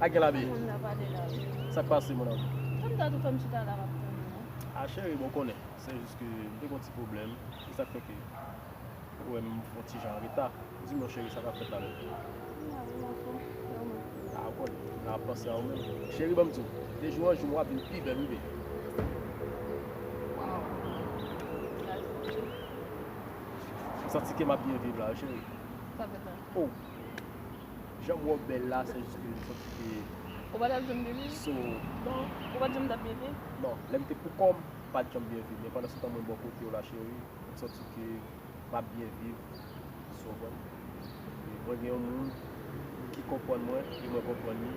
A gen lavi? Sak pase mon amour? Tanm ta tou fèm chita la map tande non. A cheri bon ou konnen se jis ke m te gen yon ti pwoblèm se sak fè ke ou wèm yon ti jan an reta. Di m non cheri sa kap fèt la menm? M la wi mon chou, e ou menm? A ou konnen m la ap panse a ou menm. Cheri banm di w de jou an jou wap vin pi bèl wi baby. Waww sa se vre? M santi ke map byen viv la wi cheri. Sa fèt la? Oh. Janm wè w bèl la se jis ke jwont ou te ye. Ou pa tap janm byen viv? So. Non, ou pat janm tap byen viv? Non, lèm te pou kòm, m pat janm byen viv men pandan se tan mwen bò kote w la cheri, m santi ke map byen viv. So mwen. Mwen gen yon moun ki konprann mwen e mwen konprann li.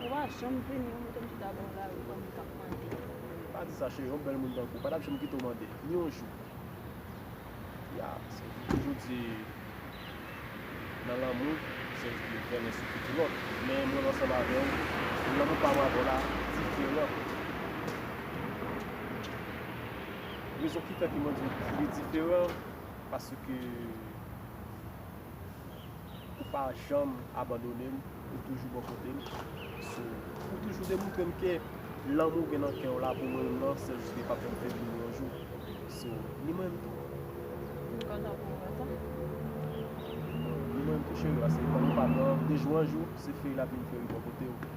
Ou pa janm vini ou mete m chita bò lari kòm m tap mande. Pa di sa cheri yon bèl moun tankou w pa tap janm kite w mande ni yon jou. Ya sèl ki toujou di nan lanmou sèl ki te trennen sou pye ti lòt men mwen ansanm avè w lanmou pa mwen avè w la diferan. Rezon ki fè ke mwen di w li diferan paske. Ou pa janm abandone m, ou toujou bò kote m. Ou toujou demontre m ke lanmou ou gen nan kè w la pou mwen menm nan, sèl si li pa fè m febli ni yon jou. So, ni mwen menm tou. M kontan pou ou tou. Ni mwen menm tou cheri, paske lanmou pa pran de jou an jou, se feri l ap vin feri bò kote w.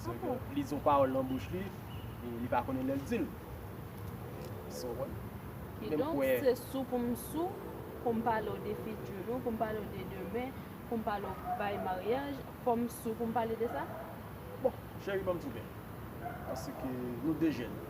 San ke li di yon pawòl nan bouch li, li pa konnen lè l di l. Sa w konprann? Kidonk, se sou pou m sou, pou m pale w de fiti nou, pou m pale w de demen, pou m pale w bay maryaj, fò m sou pou m pale de sa? Bon, cheri, ban m tou kè. Paske nou de jèn.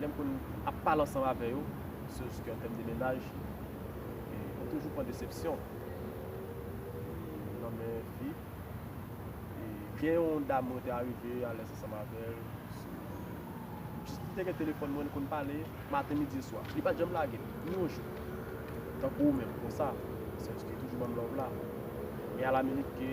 lè m konn ap pale ansanm avè yo, sou s kè tèm de mennaj, e mwen toujou pran desepsyon nan men fi. E gen yon dam mwen te arive alèz ansanm avè l, sou m jis m te gen telefòn mwen, n konn pale maten, midi e swa. Li pa t janm lage m, ni yon jou. Tankou ou menm konsa, sou s ki toujou ban m love la. Men a la minit ke.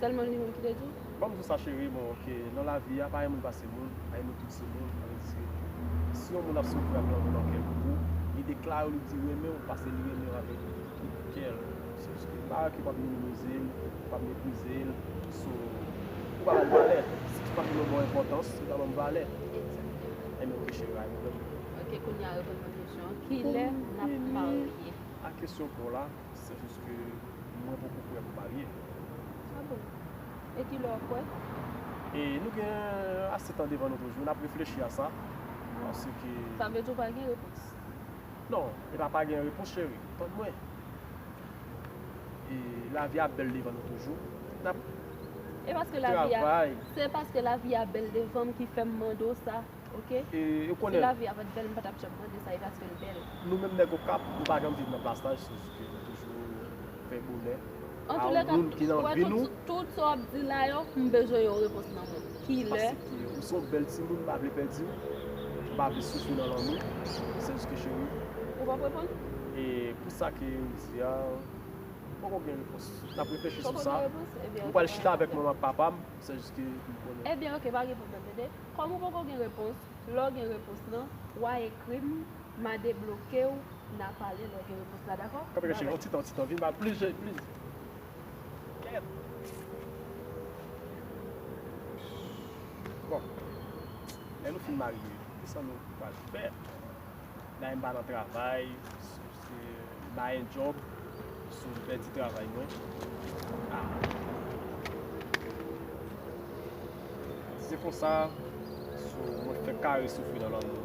Selman li menm ki te di. Banm di w sa cheri bon ok nan lavi a pa yon moun pase moun pa yon moun tout se moun sa vle di se si yon moun ap soufri ap lanmou nan kèl pou ou li deklare w li di renmen w pase li renmen w avèk tout kèl se jis ke pa okipe w ap minimize l ou pa meprize l so ou pa ba l valè si tout paske nou ba w enpòtans li pa banm valè enben ok cheri a reponn ok kounya reponn mwen kesyon an kilè nap marye a kesyon paw la. Se jis ke mwen poko kwè pou marye. Ah bon? E ki lè w kwè? E nou gen ase tan devan nou toujou, n ap reflechi a sa. Paske. Sa vle di w pa gen repons? Non, e pa pa gen repons cheri. Tann mwen. E lavi a bèl devan nou toujou. N ap. E paske lavi a. Travay. Se paske lavi a bèl devan m ki fè m mande w sa. Ok si lavi a pat bèl m patap janm mande sa e paskel bèl. Nou menm nèg okap nou pa janm viv nan plas laj se jus ke nou toujou fè bonè a yon moun ki nan vi nou. Tout sa wap di la yo m bezwen yon repons nan menm kilè. Paske ou se yon bèl timoun m pa vle pèdi w m pa vle soufri nan lanmou se jus ke cheri. Ou pap reponn? E pou sa ke ou di a poko gen repons nap reflechi sou sa m pral chita avèk manman ak papam se jus ke pou m konnen. Ebyen ok pa gen pwoblèm tande. Kòm ou poko gen repons, lè w gen repons lan, wa ekri m, ma debloke w, na pale lè w gen repons la dakò? Kanpe kanpe yon ti tan yon ti tan vin bal plis jèy plis kèt bon lè nou fin marye kisan nou pral fè. Dayè m pa nan travay, se baye djòb, sou m pèdi travay mwen. Ah. Si se konsa, sou mwen fèk kare soufri nan lanmou.